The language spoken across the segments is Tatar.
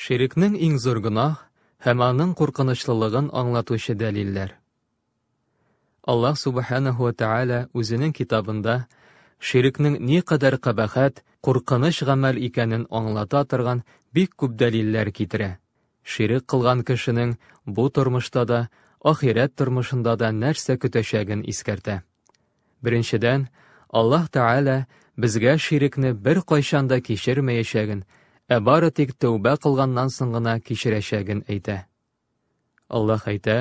Ширекнең иң зур гөнаһ һәм аның куркынычлылыгын аңлатучы дәлилләр. Аллаһ Субханаһу ва Тааля үзенең китабында ширекнең никадәр кабахәт, куркыныч гамәл икәнен аңлата торган бик күп дәлилләр китерә. Ширек кылган кешенең бу тормышта да, ахирәт тормышында да нәрсә көтәчәген искәртә. Беренчедән, Аллаһ Тәгалә безгә ширекне беркайчан да кичермәячәген, ә бары тик тәүбә кылганнан соң гына кичерәчәген әйтә. Аллаһ әйтә,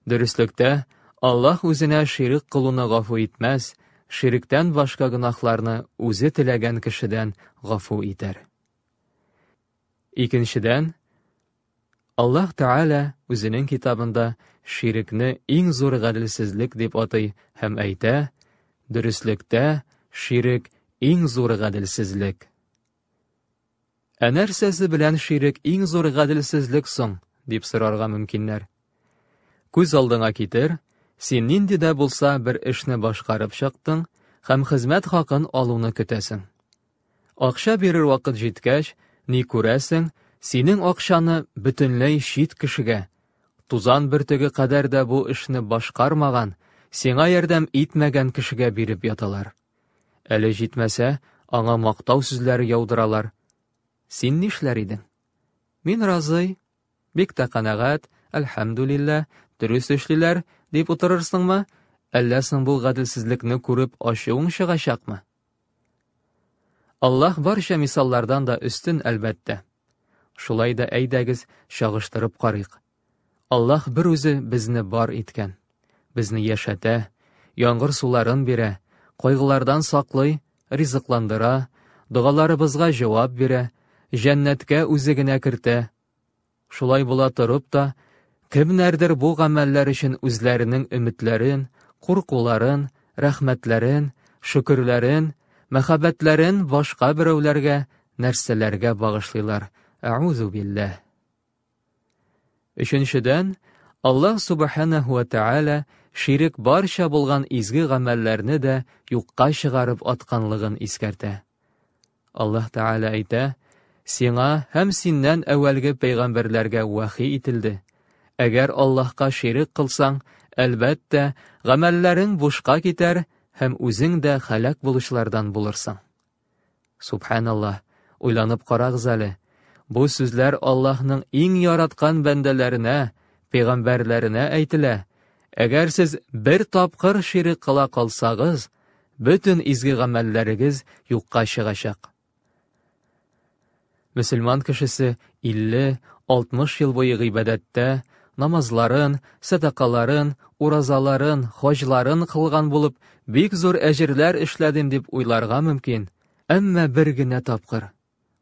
Дөреслектә, Аллаһ үзенә ширек кылуны гафу итмәс, ширектән башка гөнаһларны үзе теләгән кешедән гафу итәр. Икенчедән, Аллаһ Тәгалә Үзенең Китабында ширекне иң зур гаделсезлек дип атый һәм әйтә, Дөреслектә, ширек, иң зур гаделсезлек. Ә нәрсәсе белән ширек иң зур гаделсезлек соң? дип сорарга мөмкиннәр. Күз алдыңа китер, син нинди дә булса бер эшне башкарып чыктың һәм хезмәт хакын алуны көтәсең. Акча бирер вакыт җиткәч, ни күрәсең, синең акчаны бөтенләй чит кешегә, тузан бөртеге кадәр дә бу эшне башкармаган, сиңа ярдәм итмәгән кешегә биреп яталар. Әле җитмәсә, аңа мактау сүзләре яудыралар. Син нишләр идең? Мин разый, бик тә канәгать, әлхәмдүлиллә, дөрес эшлиләр, дип утырырсыңмы, әллә соң бу гаделсезлекне күреп ачуың чыгачакмы? Аллаһ барча мисаллардан да өстен, әлбәттә. Шулай да әйдәгез, чагыштырып карыйк. Аллаһ бер үзе безне бар иткән. Безне яшәтә, яңгыр суларын бирә, кайгылардан саклый, ризыкландыра, догаларыбызга җавап бирә, җәннәткә үзе генә кертә. Шулай була торып та, кемнәрдер бу гамәлләр өчен үзләренең өметләрен, куркуларын, рәхмәтләрен, шөкерләрен, мәхәббәтләрен башка берәүләргә, нәрсәләргә багышлыйлар. Әгъүзу билләһ. Өченчедән, Аллаһ Субханәһу ва Тәгалә ширек барча булган изге гамәлләрне дә юкка чыгарып атканлыгын искәртә. Аллаһ Тәгалә әйтә, Сиңа һәм синнән әүвәлге пәйгамбәрләргә вәхи ителде. Әгәр Аллаһка ширек кылсаң, әлбәттә, гамәлләрең бушка китәр һәм үзең дә хәлак булучылардан булырсың. Субханаллаһ, уйланып карагыз әле, бу сүзләр Аллаһның иң яраткан бәндәләренә, пәйгамбәрләренә әйтелә. Әгәр сез бер тапкыр ширек кыла калсагыз, Бөтен изге гамәлләрегез юкка чыгачак. Мөселман кешесе 50-60 ел буе гыйбадәттә, намазларын, сәдакаларын, уразаларын, хаҗларын кылган булып, бик зур әҗерләр эшләдем дип уйларга мөмкин, әмма бер генә тапкыр,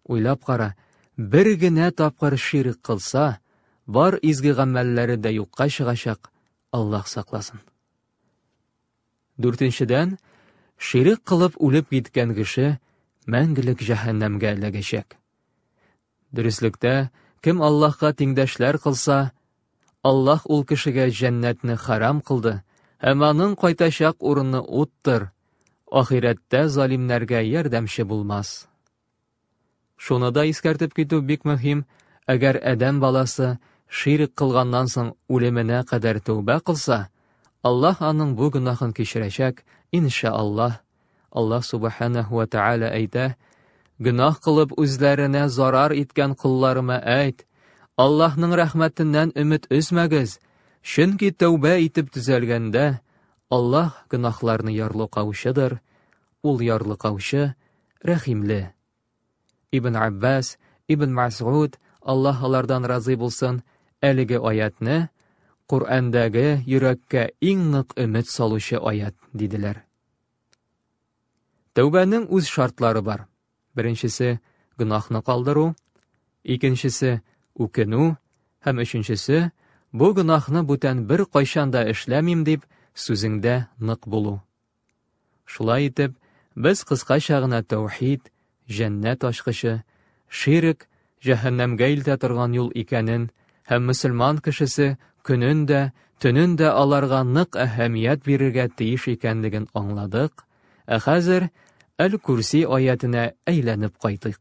уйлап кара, бер генә тапкыр ширк кылса, бар изге гамәлләре дә юкка чыгачак, Аллаһ сакласын. Дүртенчедән, ширек кылып үлеп киткән кеше мәңгелек җәһәннәмгә эләгәчәк. Дөреслектә, кем Аллаһка тиңдәшләр кылса, Аллаһ ул кешегә җәннәтне харам кылды һәм аның кайтачак урыны уттыр, ахирәттә залимнәргә ярдәмче булмас. Шуны да искәртеп китү бик мөһим, әгәр адәм баласы ширк кылганнан соң үлеменә кадәр тәүбә кылса, Аллаһ аның бу гөнаһын кичерәчәк, инша Аллаһ. Аллаһ Субханәһү вә Тәгалә әйтә, Гөнаһ кылып үзләренә зарар иткән колларыма әйт, Аллаһның рәхмәтеннән өмет өзмәгез, чөнки тәүбә итеп төзәлгәндә, Аллаһ гөнаһларны ярлыкаучыдыр, Ул ярлыкаучы, рәхимле. Ибн Габбас, Ибн Мәсгуд, Аллаһ алардан разый булсын, әлеге аятьне Коръәндәге йөрәккә иң нык өмет салучы аят диделәр. Тәүбәнең үз шартлары бар. Беренчесе гөнаһны калдыру, икенчесе үкенү һәм өченчесе бу гөнаһны бүтән бер кайчан да эшләмим дип сүзеңдә нык булу. Шулай итеп, без кыскача гына тәүхид, җәннәт ачкычы, ширек, җәһәннәмгә илтә торган юл икәнен һәм мөселман кешесе көнен дә, төнен дә аларга нык әһәмият бирергә тиеш икәнлеген аңладык, ә хәзер Әл-Курси аятенә әйләнеп кайтыйк.